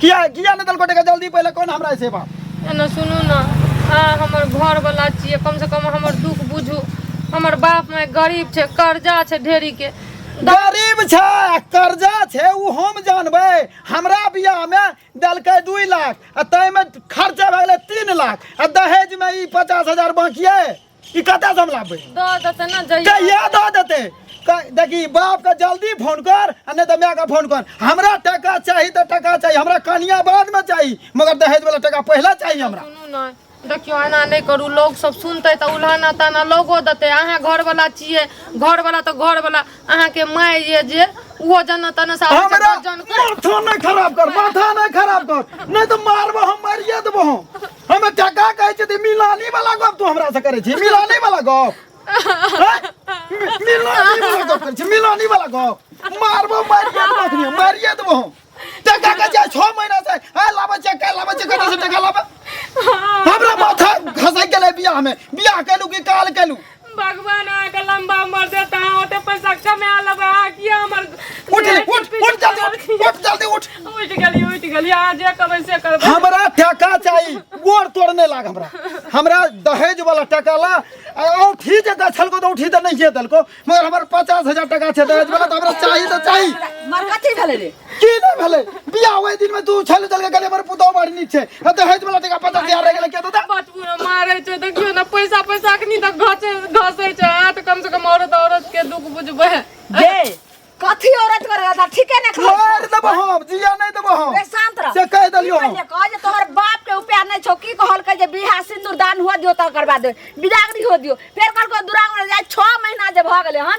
किया किया नहि देलको टका जल्दी पहिले कोन हमरा से बाप एना सुनू ने अहाँ हमर घरवला छियै कमसँ कम हमर दुख बुझू हमर बाप माय गरीब छै कर्जा छै ढेरीके गरीब छै आ कर्जा छै ओ हम जानबै हमरा बियाहमे देलकै दुइ लाख आ ताहिमे खर्चा भए गेलै तीन लाख आ दहेजमे ई पचास हजार बाँकिए ई कतऽ से हम लाबे दऽ देतै ने जइया कहिया दऽ देते क- देखी बाप के जल्दी फोन कर आ नहि तऽ माय के फोन कर हमरा टका चाही तऽ टका चाही हमरा कनिया बाद में चाही मगर दहेज वाला टका पहले चाही हमरा सुनू ने देखियो एना नहि करू लोग सब सुनते तऽ उल्हाना ताना लोगो देते अहाँ घर वाला छियै घर वाला तऽ घर वाला अहाँ के माय ये जे उहो जन तन से आबै छै, हमरा दस जन के। माथा नहि खराब कर माथा नहि खराब कर नहि तऽ मारबो हम मारिए देबो हम हम एकटा का कहै छी त मिलानी वाला गप तू हमरा से करै छी मिलानी वाला गप हैं? मि- मिलानी वाला गप करै छी मिलानी वाला गप मारबो मारिए देबो अखनी मारिए देबो हम टका के जाय 6 महीना से आ लाबे छै का लाबे छै कतऽ से टका लाबे हमरा माथा घसै गेलै बियाह में बियाह केलू कि काल केलू भगवान अहाँके लंबा उमर देत अहाँ ओते पैसा कमा लेबै अहाँ किया हमर उठ ले, उठ उठ जल्दी उठ उठ जल्दी उठ उठि गेली उठि गेली अहाँ जे कहबै से करबै हमरा टाका चाही गोर तोड़ नहीं लाग हमरा हमरा दहेज वाला टाका ला आ औठी जे दै छलको तो औठी तो नहीं दलको मगर हमर पचास हजार टाका छै दहेज वाला तो हमरा चाही तो चाही मर कथी भेलै रे की नहि भेलै बियाह ओहि दिन में दू छल चल के गले पर पुतौ मार नीक छै आ तऽ हेज वाला टिका पता दिया रह गेलै के दादा बचबू ने मारै छै देखियो ने पैसा पैसा अखनी तक घसे घसै छै हाथ कम से कम औरत औरत के दुख बुझबै जे कथी औरत कर रहा था ठीके ने खा मार देबो हम जिया नहि देबो हम ए शांत रह से कह देलियो हम पहिले कह जे तोहर बाप के उपाय नहीं छौ की कहल के जे बियाह सिंदूर दान हुआ दियो त करवा दे बिदागरी हो दियो फेर कहल को दुरांग में जाय 6 महीना जे भ गेले हन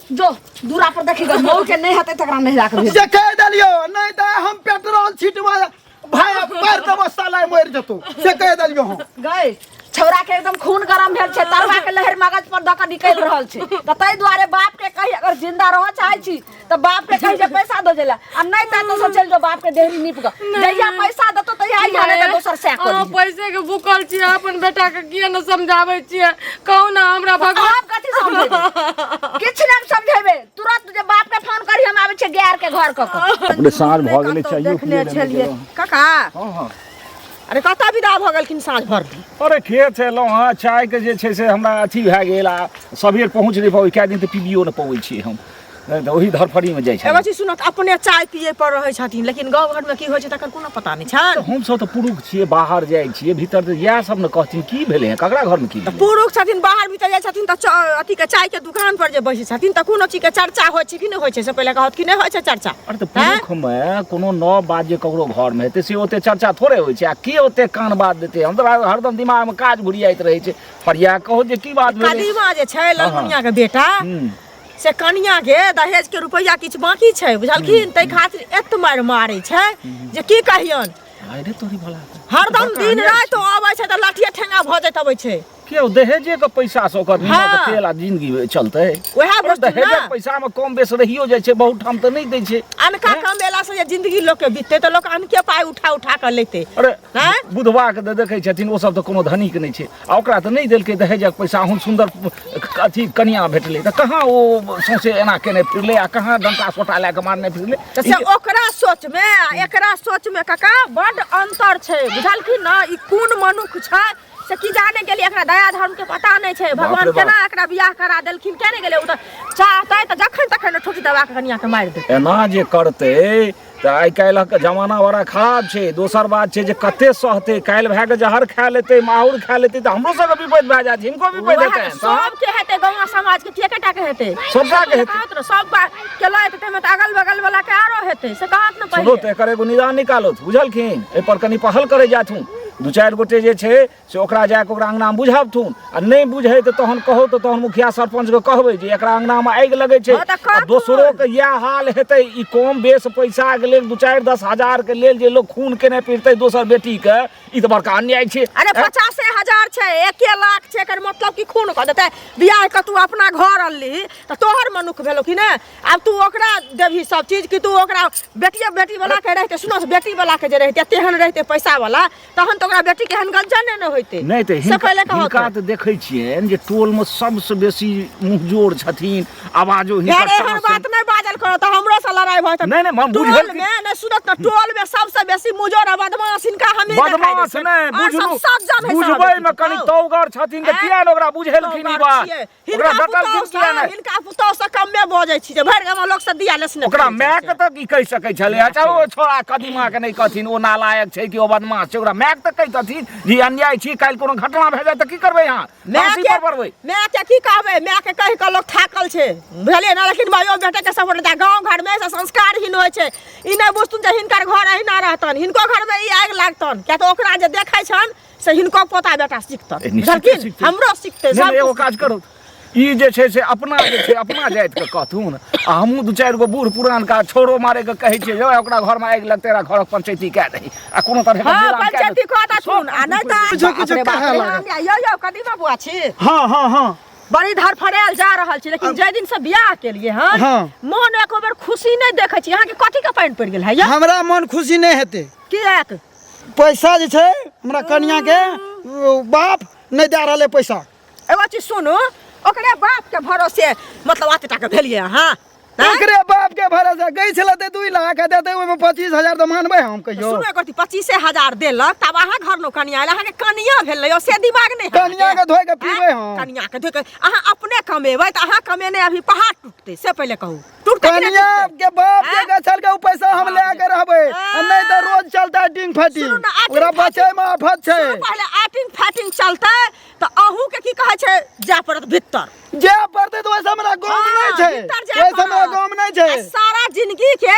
जो दूरा पर देखी गो मऊ के नहीं हते तकरा नहीं राख दे जे कह देलियो नहीं दा हम पेट्रोल छिटवा भाई पर देबो साला मर जतो जे कह देलियो हम गए छौरा के एकदम खून गरम भेल छै तरवा के लहर मगज पर दक निकल रहल छै त तै दुआरे बाप के कही अगर जिंदा रह चाहै छी त बाप के कही जे पैसा दो जेला आ नहीं ता तो सब चल जो बाप के देहरी निप ग जहिया पैसा दतो तहिया आई जाने ता दोसर से अहाँ कर पैसे के भूखल छियै अपन बेटा के किया ने समझाबै छियै कहू ने हमरा भगवान आप कथी समझेबे किछ ना समझेबे तुरंत जे बाप के फोन करी हम आबै छै गैर के घर क क अपने साँझ भऽ गेलै कतौ चाहिए देखने छलियै काका हँ हँ अरे कतऽ विदा भऽ गेलखिन साँझ भर दिन अरे खेत से एलहुँ हँ चायके जे छै से हमरा अथी भए गेल आ सबेर पहुँच नहि पबै कए दिन तऽ पीबियो नहि पबै छी हम नहि तऽ ओही धरफड़ीमे जाइ छै एगो चीज सुनत अपने चाय पिए पर रहै छथिन लेकिन गाँव घरमे की होइ छै तकर कोनो पता नहि छनि हमसभ तऽ पुरुष छियै बाहर जाइ छियै भीतर तऽ इएह सब ने कहथिन की भेलै हँ ककरा घरमे की भेलै पुरुष छथिन बाहर भीतर जाइ छथिन तऽ चा- अथीके चायके दुकान पर जे बैसै छथिन तऽ कोनो चीजके चर्चा होइ छै कि नहि होइ छै से पहिले कहत कि नहि होइ छै चर्चा अरे तऽ आँय? पुरुषमे कोनो नव बात जे ककरो घरमे हेतै से ओते चर्चा थोड़े होइ छै आ के ओते कान बात देतै हम तऽ हरदम दिमागमे काज घुरियाइत रहै छै फरिया कहो जे की बात भेलै कदीमा जे छै ललमुनियाके बेटा हूँ। से कनिया के दहेज के रुपैया किछु बाकी छै बुझलखिन ताहि खातिर एत मारि मारै छै जे की कहियन अरे तोरी भला हरदम दिन राति ओ अबै छै तऽ लाठिये ठेंगा भऽ जाइत अबै छै के ओ दहेजे के पैसा से ओकर हाँ। हाँ। तेल आ जिंदगी में चलते उएह अरे वस्तु दहेजे ने। के पैसा में कम बेस रहियो जाइ छै बहुत ठाम तऽ नहि दै छै अनका कमेला से जे जिंदगी लोक के बीतते तऽ लोक अनके पाइ उठा उठा कऽ लेते अरे हैं? बुधवा के तऽ देखै छथिन ओ सब तऽ कोनो धनिक नहि छै आ ओकरा तऽ नहि देलकै दहेजक पैसा अहूँ सुन्दर अथी कनिया भेटलै तऽ कहाँ ओ सौंसे एना केने फिरलै आ कहाँ डंटा सोटा लए कऽ मारने फिरलै तऽ से ओकरा सोचमे आ एकरा सोचमे काका बड्ड अन्तर छै बुझलखिन ने ई कोन मनुख छै से की जाने गेलियै एकरा दया धर्मके पता नहि छै भगवान रे बाप। केना एकरा बियाह करा देलखिन केने गेलै ओ तऽ चाहतै तऽ जखन तखन ठोठी दबा कऽ कनियाके मारि देतै एना जे करतै तऽ आइ काल्हिक जमाना बड़ा खराब छै दोसर बात छै जे कते सहतै काल्हि भए कऽ जहर खा लेतै माहौर खा लेतै तऽ हमरो सबके विपद भए जायत हिनको विपद हेतै सबके हेतै गाँव समाज के के टाके हेतै सबटा के हेतै सब केला हेतै तैमे तऽ अगल बगल वाला के आरो हेतै से कहत ने पहिले तऽ एकर एगो निदान निकालो बुझलखिन एहि पर कनी पहल करै जाथुन दू चारि गोटे जे छै से ओकरा जाकऽ ओकरा अङ्गनामे बुझबथुन आ नहि बुझै तऽ तहन कहौ तऽ तहन मुखिया सरपञ्चके कहबै जे एकरा अङ्गनामे आगि लगै छै हँ तऽ आ कहथुन। दोसरोके इएह हाल हेतै ई कम बेस पैसाके लेल दू चारि दस हजारके लेल जे लोक खून केने फिरतै दोसर बेटीके ई तऽ बड़का अन्याय छै अरे ऐं? पचासे हजार छै एके लाख छै एकर मतलब कि खून कऽ देतै बियाह कऽ तू अपना घर अनली तऽ तोहर मनुख भेलौ कि नहि आब तू ओकरा देबही सब चीज कि तू ओकरा बेटिए बेटी वाला के रहिते सुनो बेटी वाला के जे रहिते तेहन रहिते पैसा वाला तहन तऽ ओकरा बेटी के एहन गंजा नहि ने होइते नहि तऽ से पहिले हिनका कहत हिनका तऽ देखै छियनि जे टोलमे सबसँ बेसी मुँहजोर छथिन आवाजो हिनका यार एहन साँस- बात नहि बाजल करो तऽ हमरो से लड़ाई भऽ जेतै नहीं, नहीं, हम बुझल टोल कि- में ने सुनत ना टोल में सबसे बेसी मुजोर आ बदमाश इनका हमी बदमाश नहि बुझलू बुझबै मे कनि तौगर छथिन तऽ किया ने ओकरा बुझेलखिन ई बात ओकरा हिनका डकल पुतौह किया सँ- नहि? हिनका पुतौह से कमे बजै छी जे भरि गाम लोक से दिया लेसने ओकरा करै माय छै। के तऽ की कहि सकै छलै अच्छा ओ छोड़ा कदीमा के नहि कहथिन ओ नालायक छै कि ओ बदमाश छै ओकरा माय के तऽ कहितथिन जे अन्याय छी काल्हि कोनो घटना भए जाय तऽ की करबै अहाँ माय फाँसी के पर पड़बै माय के की कहबै माय के कहि कऽ लोक थाकल छै बुझलियै ने लेकिन मायो बेटे के सपोर्ट देता गाँव घर में ऐसा संस्कार ही होइ छै ई नहि बुझतुन जे हिनकर घर अहिना रहतन हिनको घर में ई आगि लागतन किया तऽ ओकरा जे देखै छन से हिनको पोता बेटा सिखतन ए, निश्चिते बुझलखिन सिखतै। हमरो सिखतै नहि, सब नहि, एगो कुछ काज करू ई जे छै से अपना जे छै अपना जातिके कहथुन आ हमहूँ दू चारि गो बूढ़ पुरानका छोरो मारैके कहै छियै जो ओकरा घरमे आगि लगतै रहा घरक पंचैती कए दही आ कोनो तरहके हँ विराम कए पंचायती दही। कहता सुन आ नहि तऽ किछो बाप किछो रे बाप कहऽ रे, लागत। हमरा- यौ यौ कदीमा बुआ छी हँ हँ हँ बड़ी धरफड़ायल जा रहल छी लेकिन जाहि दिन से बियाह केलिए हन हँ। मोन एको बेर खुशी नहि देखै छी अहाँके कथी के पानि पड़ि गेल है यौ हमरा मन खुशी नहि हेतै किएक पैसा जे छै हमरा कनिया के बाप नहीं दे रहा पैसा एगो चीज सुनू ओकरे बाप के भरोसे मतलब आते टाके भेलिए अहाँ ओकरे बाप के भरोसे गई छले ते 2 लाख दे दे ओमे 25000 तो मानबे हम कहियो सुनो एकर 25000 देलक तब अहाँ घर लो कनिया अहाँ के कनिया भेल यो से दिमाग नहीं कनिया के धोय के पीबे हम कनिया के धोय के अहाँ अपने कमेबै त अहाँ कमेने अभी पहाड़ टूटते से पहले कहू टूटतै कि नहि कनिया टूटतै? के बाप के आँय? गछल के उ पैसा हम ले के रहबे आ नहीं तो रोज चलता डिंग फटी सुनू ने, आटिंग ओकरा फाटिंग। बचे में आफत छै सुनू पहले आटिंग फाटिंग चलतै तऽ अहूँ के की कहै छै जाय पड़त भीतर जे पड़ते तो वैसे हमरा गांव में हाँ, नहीं छै भीतर जाय वैसे हमरा पड़त। गांव में नहीं छै आ सारा जिंदगी के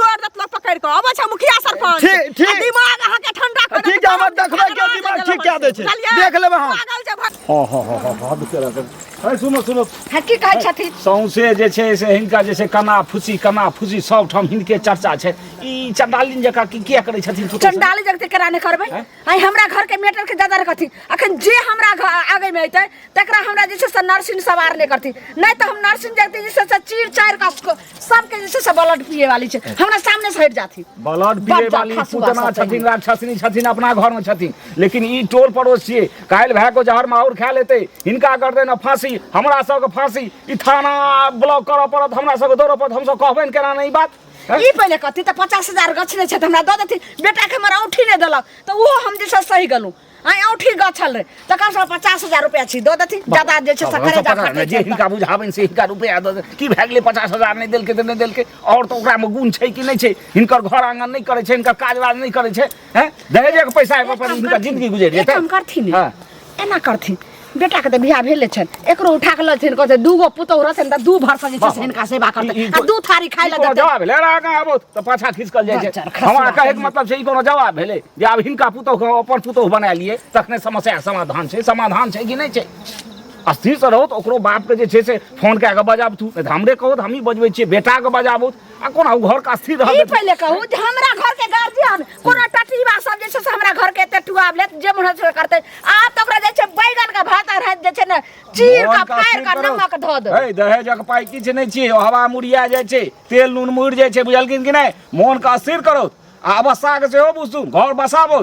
तोड़ देत लोग पकड़ के अबै छै मुखिया सरपंच ठीक- ठीक। आ दिमाग अहाँ के ठंडा कर ठीक है, हमर देखबै के दिमाग ठीक कए दै छै। देख लेबै हम। पागल छै भा- हँ हँ हँ हँ हँ बिचारा करू। है सुनो सुनो हँ, की कहै छथिन सौंसे जे छै से हिनका जे छै कना फुसी कना फुसी सब ठाम हिनके चर्चा छै ई चंडालिन जकाँ की किया करै छथिन तू कहै चंडाली जगते केना नहि करबै आइ हमरा घर के मेटर के दादा रखथिन अखन जे हमरा घर आगे में अयतै तकरा हमरा जे छै से नर्सिंग सवार नहि करथिन नहि तऽ हम नर्सिंग जगते जे छै से चीर चारि कऽ सबके जे छै से ब्लड पिए वाली छै हमरा सामने से हट जाथि ब्लड पिए बच्चा वाली खसुआ पूतना सब छथिन चाहिए। राक्षसनी छथिन अपना घर में छथिन लेकिन ई टोल पड़ोस छियै काल्हि भए को जहर माहौर खा लेतै हिनका कर देना फांसी हमरा सबके फांसी ई थाना ब्लॉक करऽ पड़त हमरा सबके दौड़ऽ पड़त हमसब कहबै ने केना नहि ई बात हैं? ई पहिले कहती तऽ पचास हजार गछ नहि छै तऽ हमरा दऽ देथिन बेटाके हमरा औठी नहि देलक तऽ ओहो हम जे छै से सही गेलहुँ आइ औठी गछल रहे तकर सब पचास हजार रुपया छी दऽ देथिन ज्यादा जे छै से करे जा पकड़ने जे हिनका बुझाबनि से हिनका रुपैआ दऽ दे की भए गेलै पचास हजार नहि देलकै तऽ नहि देलकै आओर तऽ ओकरामे गुण छै कि नहि छै हिनकर घर आङ्गन नहि करै छै हिनकर काज वाज नहि करै छै हैं दहेजेके पैसा एगो पर हिनकर जिंदगी गुजरि एक जेतै काम करथिन हँ। एना करथिन बेटाके तऽ बियाह भेले छनि एकरो उठा कऽ लथिन कहतै दूगो पुतहु रहतनि तऽ दू भर सजे छै से हिनका सेवा करतै ई- ई आ कोन- दू थारी खाइ ई लए कोनो देतै जवाब भेलै अरे आगाँ आबो तऽ पाछा खिसकल जाइ छै अच्छा, खसवा हमरा कहैके कहियै। मतलब छै ई कोनो जवाब भेलै जे आब हिनका पुतहुके हम अपन पुतहु बना लिए तखने समस्या समाधान छै समाधान छै कि नहि छै स्थिरसँ रहू तऽ ओकरो बापके जे छै से फोन कए कऽ बजाबथु नहि तऽ हमरे कहू तऽ हमही बजबै छियै बेटाके बजाबू आ कोना उ घर का स्थिर ई रहल पहिले कहू जे हमरा घर के गार्जियन कोनो टटीबा सब जे छै से हमरा घर के एते टुआब लेत जे मन से करते आब तऽ ओकरा जे छै बैगन के भात आ रात जे छै ने चीर के फाड़ के नमक धऽ दे ए दहेजक पाइ किछु नहि छियै ओ हवा मुड़िया जाइ छै तेल नून मुड़ि जाइ छै बुझलखिन कि नहि मोनके अस्थिर करो आ अवस्थाके सेहो बुझू घर बसाबो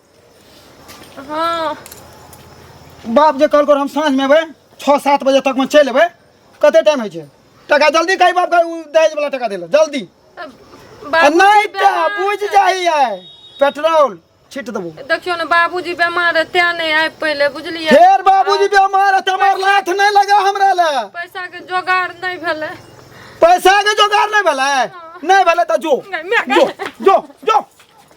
हँ बाप जे कहलको हम साँझ में अबै छओ सात बजे तक में चलि अबै कते टाइम होइ छै टका जल्दी कही बाप के उ दहेज वाला टका देला जल्दी आ बाबूजी नहीं तो बेमार बुझ है। जाही है पेट्रोल छीट देबो देखियो ने बाबूजी बेमार है तें नहीं आबि पहिले बुझलियै फेर बाबूजी बेमार है तमार लाथ नहीं लगा हमरा ले पैसा के जोगाड़ नहीं भेलै पैसा के जोगाड़ नहीं भेलै नहीं भेलै तो जो गै, माय गै। जो जो जो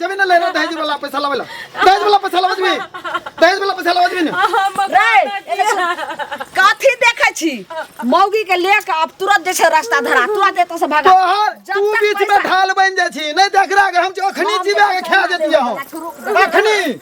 जमीन ले ना दहेज वाला पैसा लावेला दहेज वाला पैसा लावत भी दहेज वाला पैसा लावत भी ना काथी देखै छी मौगी के ले के अब तुरंत जे छै रास्ता धरा तुरंत एतऽ से भागा तोहर जब तू तक बीच में पैसा- ढाल बन जाइ छी नहीं देख रहा हम जो अखनी जीवा के खा देती हो अखनी